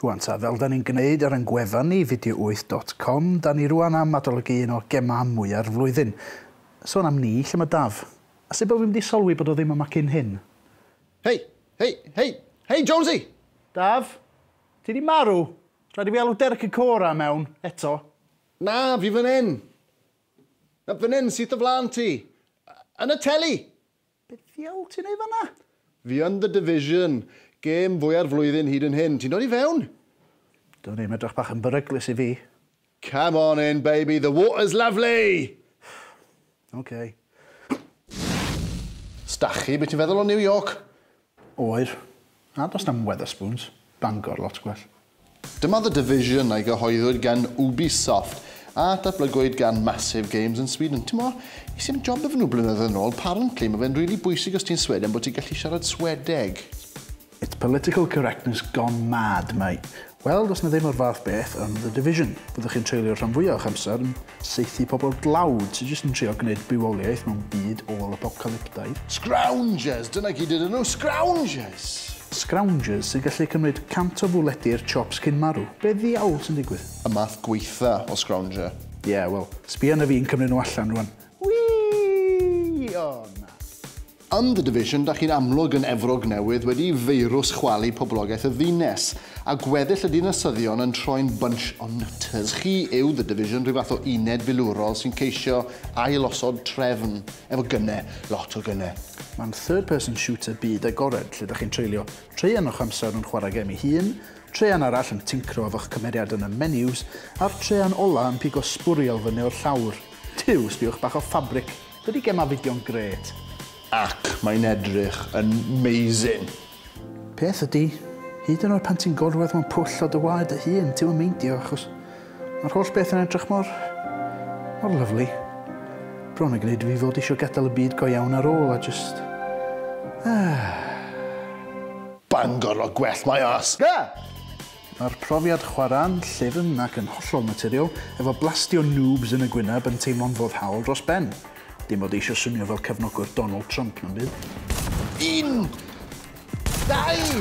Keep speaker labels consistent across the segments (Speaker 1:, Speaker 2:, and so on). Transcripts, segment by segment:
Speaker 1: Rwan ta, fel da ni'n gwneud ar ein gwefan ni, video8 dot com, da ni rwan am adolygu un o gemau mwya'r flwyddyn. Sôn am ni, lle mae Daf? A sut bod fi'm di solwi bod o ddim yma cyn hyn? Hei! Hei! Hei! Hei Jonesy! Daf? Ti di marw? Rhaid i fi alw Derek y Cora mewn, eto. Na, fi fan hyn! Na, fan hyn, syth o flaen ti. Yn y teli! Be ddiawl ti'n ei fanna? Fi yn The Division. Gêm fwya'r flwyddyn hyd yn hyn. Ti'n dod i fewn? Dwn i'm, edrych bach yn beryglus i fi. Come on in, baby, the water's lovely! Ocê. Stachi, be ti'n feddwl o New York? Oer. A does na'm Wetherspoons. Bangor, lot gwell. Dyma The Division a gyhoeddwyd gan Ubisoft a datblygwyd gan Massive Games yn Sweden. Timo, es i am job efo nhw blynyddoedd yn ôl, parently mae fe'n rili bwysig os ti'n Sweden bod ti'n gallu siarad Swedeg. It's political correctness gone mad mate. Wel, does 'na ddim o'r fath beth yn The Division. Fyddwch chi'n treulio'r rhan fwyaf o'ch amser yn saethu pobl dlawd sydd jyst yn trio gwneud bywoliaeth mewn byd ôl-apocalyptaidd. Scroungers! Dyna gyd ydyn nhw, scroungers! Scroungers sy'n gallu cymryd cant o fwledi i'r chops cyn marw. Be ddiawl sy'n digwydd? Y math gwaetha o scrounger. Ie, wel, sbia arna fi yn cymryd nhw allan rwan. Wî! O, na. Yn The Division, da chi'n amlwg yn Efrog Newydd wedi i feirws chwalu poblogaeth y ddiines, a gweddill y dinasyddion yn troi'n bunch o nutters. Chi yw The Division, rhyw fath o uned filwrol sy'n ceisio ail-osod trefn, efo gyne, lot o gyne. Mae'n third person shooter byd agored lle da chi'n treulio traean o'ch amser yn chwarae gem ei hun, traean arall yn tincro efo'ch cymeriad yn y menus, a'r traean ola yn pigo sbwriel fyny o'r llawr. Tiw, sbiwch bach o ffabric Dydi gemau fideo'n grêt. Ac mae'n edrych yn 'mazing! Peth ydi, hyd yn oed pan ti'n gorwedd mewn pwll o dy waed dy hun, ti'm yn meindio achos mae'r holl beth yn edrych mor... mor lyfli. Bron yn gwneud i fi fod eisiau gadael y byd go iawn ar ôl a jyst... Ahh! Bangor o gwell mae o as! Ga! Mae'r profiad chwarae'n llyfn ac yn hollol naturiol, efo blastio noobs yn y gwyneb yn teimlo'n foddhaol dros ben. Dim fod eisio swnio fel cefnogwr Donald Trump na'm byd. Un! Dau!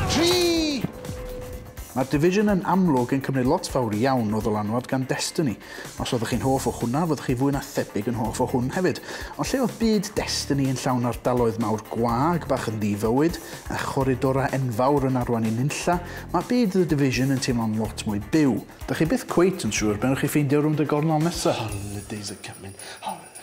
Speaker 1: Tri! Mae'r Division yn amlwg yn cymryd lot fawr iawn o ddylanwad gan Destiny, Os oeddech chi'n hoff o hwnna, fyddwch chi fwy na thebyg yn hoff o hwn hefyd. Ond lle oedd byd Destiny yn llawn ardaloedd mawr gwag bach yn ddi-fywyd, a choridorau enfawr yn arwain i nunlla, mae byd The Division yn teimlo'n lot mwy byw. Dych chi byth cweit yn siŵr be wnewch chi ffeindio rownd y gornel nesa. Holidays are coming, holidays.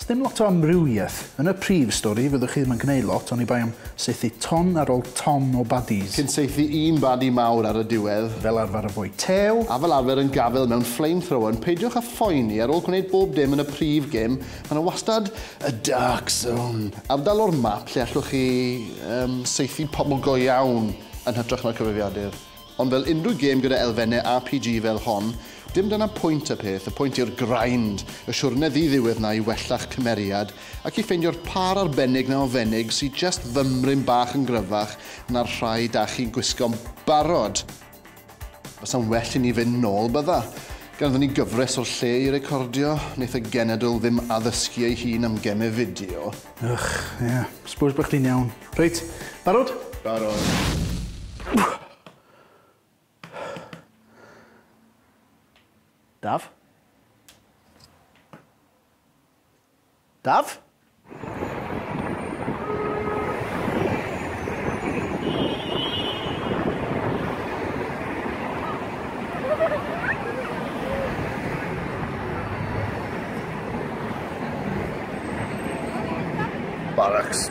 Speaker 1: Sdim lot o amrywiaeth yn y prif stori, fyddwch chi ddim yn gneud lot, oni bai am saethu ton ar ol ton o baddies. Cyn saethu un badi mawr ar y diwedd. Fel arfer yn fwy tew. A fel arfer yn gafel mewn flame thrower, ond peidiwch a phoeni, ar ol gwneud bob dim yn y prif gêm, mae 'na wastad y dark zone, ardal o'r map lle allwch chi, yym, saethu pobl go iawn yn hytrach na'r cyfrifiadur. Ond fel unrhyw gêm gyda elfenne RPG fel hon, dim dyna pwynt y peth, y pwynt yw'r grind, y siwrne ddi-ddiwedd 'na i wella'ch cymeriad ac i ffeindio'r pâr arbennig 'na o fenig sy jest fymryn bach yn gryfach na'r rhai 'da chi'n gwisgo'n barod. Bysa'n well i ni fynd nôl, bydda? Ganddon ni gyfres o'r lle i recordio, neith y genedl ddim addysgu ei hun am geme fideo. Ych, ie. Suppose bo' chdi'n iawn. Reit, barod? Barod. Daf? Daf? Barracks.